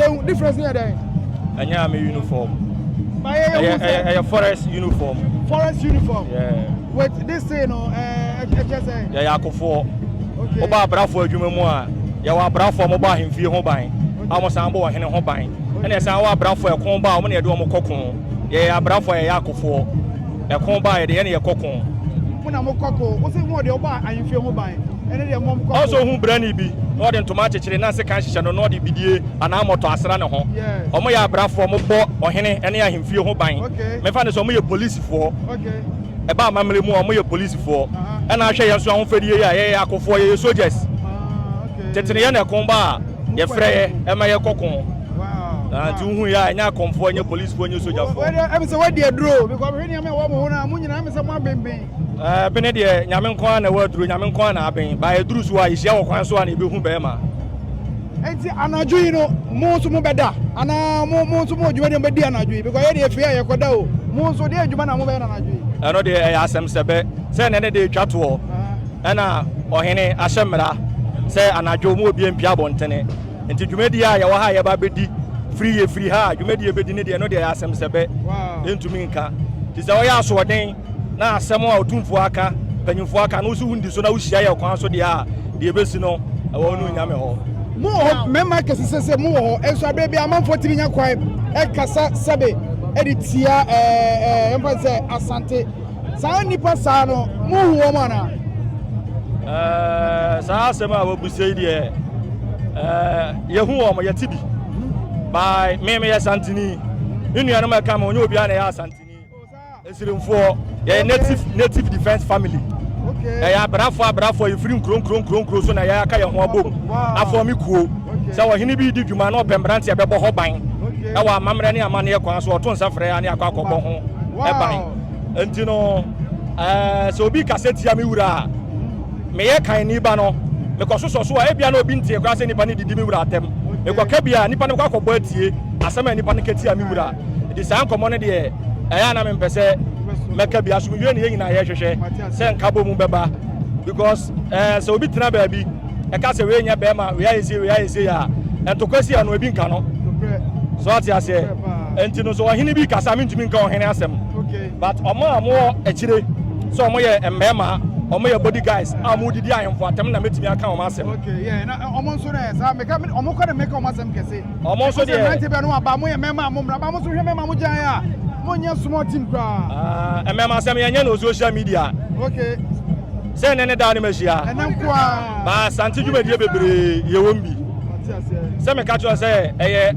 Ehu difference ni yɛ dɛ. Ɛnyɛ army uniform. Ba yɛ yɛ hu sɛ. Ɛyɛ forest uniform. Forest uniform. Yeah. Wait this thing no ɛɛ ɛkyɛ sɛ. Yɛ yɛ akofoɔ. Okay. Ɔba abrafoɔ adwuma mu a yɛ wɔ abrafoɔ mo bɔ ahemfie ho ban. Okay. A mo san bɔ ɔhene ho ban. Okay. Ɛna ɛsan wɔ abrafoɔ ɛko ba a wɔn na yɛde wɔn kɔ ko. Yɛ yɛ abrafoɔ yɛ yɛ akofoɔ. Ɛko baeɛ deɛ yɛne yɛkɔ ko. Mo na mokɔ ko. Wo se mo deɛ wobɔ ahemfie ho ban. Ɛno deɛ mom kɔ ko. Ɔsɛ ɔhu brani bi na ɔde ntoma akyekyere na sekan hyehyɛ no na ɔde bidie anaa mɔtɔ asra ne ho. Wɔyɛ abrafoɔ, wɔbɔ ɔhene ne ahemfie ho ban. Memfa no sɛ wɔyɛ polisifoɔ. Ɛba amammerɛ mu a wɔyɛ polisifoɔ. Ɛna ahwɛ yɛn nso ahofadie yi a yɛyɛ akofoɔ, yɛyɛ soldiers. Tete no yɛne ɛko ba a, yɛfrɛ yɛ ma yɛkɔ ko. Ah, nti wohu yɛ a ɛnyɛ akɔmfoɔ ɛnyɛ policefoɔ ɛnyɛ sogyafoɔ. Ɛmi sɛ wadi aduro because hwɛ nneɛma ɛwɔ mo ho na mo nyinaa ɛmi sɛ mo abenben. Ɛɛ bene deɛ nyame nko ara na ɛwɔ aduro nyame nko ara na aben ba ɛduru so a yɛhyia wɔ kwan so a na ebehu bɛrima. Nti anadwo yi no mo nso mo bɛda anaa mo mo nso mo adwuma deɛ mo bɛdi anadwo yi because yɛ deɛ efie a yɛkɔda o mo nso deɛ adwuma na mo bɛyɛ anadwo yi. Ɛno deɛ ɛyɛ asɛm sɛ bɛ sɛ ɛnɛ ne deɛ etwa toɔ ɛna ɔhene ahyɛ mmara sɛ anadwo mo obi mpia abɔntene. nti dwumadie a yɛwɔ ha a yɛba bɛdi firi yɛ firi ha a dwumadie yɛbɛdi ne deɛ no deɛ asɛm sɛ bɛ ɛntumi nka nti sɛ ɔyɛ asoɔden na asɛm a ɔtumfoɔ aka mpanyimfoɔ aka no wosi wondi so na wohyia yɛ kwan so deɛ a deɛ ɛbɛsi no ɛwɔ no nyame hɔ mo wɔ hɔ mmarima kɛse sɛ sɛ mo wɔ hɔ nso aberɛ bi amanfoɔ tumi nya kwan ɛkasa sɛbe ɛde tia ɛɛ ɛɛ mfa sɛ asante Saa nnipa saa no, mohu wɔn anaa? Ɛɛ, saa asɛm a wɔbisa yi deɛ, ɛɛ, yɛhu wɔn, yɛte bi. Bae, me meyɛ Santini. Me nuanom a ɛka me, ɔnyɛ obiara na ɛyɛ Asantini. Nsirimfoɔ, yɛyɛ native, native defense family. Ɛyɛ abrafoɔ abrafoɔ, yɛfiri nkuro nkuro nkuro nkuro so na yɛaka yɛn ho abom afɔ me kuo. Sɛ ɔhene bi di dwuma na ɔpɛ mmeranteɛ bɛbɔ hɔ ban ɛwɔ amammerɛ ne amanneɛ kwan so, ɔto nsa frɛ a ne akɔ akɔbɔ ho ban. Enti no, ɛɛ, sɛ obi kasa tia me wura a, meyɛ kanni ba no, mekɔsosɔ so a, ebia na obi ntee koraa sɛ nnipa no redidi me wura atɛm. Mekɔka bi a, nnipa no bɛkɔ akɔbɔ atie asɛm a nnipa no ka tia me wura. Enti saa nkɔmmɔ no deɛ, ɛyɛ a na mempɛ sɛ mɛka bi. Asomdwoe na yɛn nyinaa yɛhwehwɛ sɛ nkabom bɛba, because ɛɛ, sɛ obi tena baabi, ɛka sɛ wei nyɛ bɛrima wei ayɛ sie wei ayɛ sie a ntokwa si ano ebi nka no so ate aseɛ nti no so ɔhene bi kasa mentumi nka ɔhene asɛm but ɔmo a ɔmo wɔ akyire sɛ ɔmo yɛ mmarima ɔmo yɛ body guys a ɔmo didi ahemfo atɛm na metumi aka ɔmo asɛm. ɔmo nso dɛ saa meka ɔmo kɔ dɛ meka ɔmo asɛm kɛse. ɔmo nso deɛ ɛmɛnti bɛ no aba mo yɛ mɛma ɔmo mra aba mo nso hwɛ mɛma mo gyan a mo nyɛ small team koraa. ɛmɛma asɛm yɛn nyɛ no social media. okay. Sɛ nnɛ ne daa no mahyia. Ɛnɛ nkoaa. Ba Asante dwumadie bebree yɛwɔm bi. Sɛ meka kyerɛ wo sɛ ɛyɛ.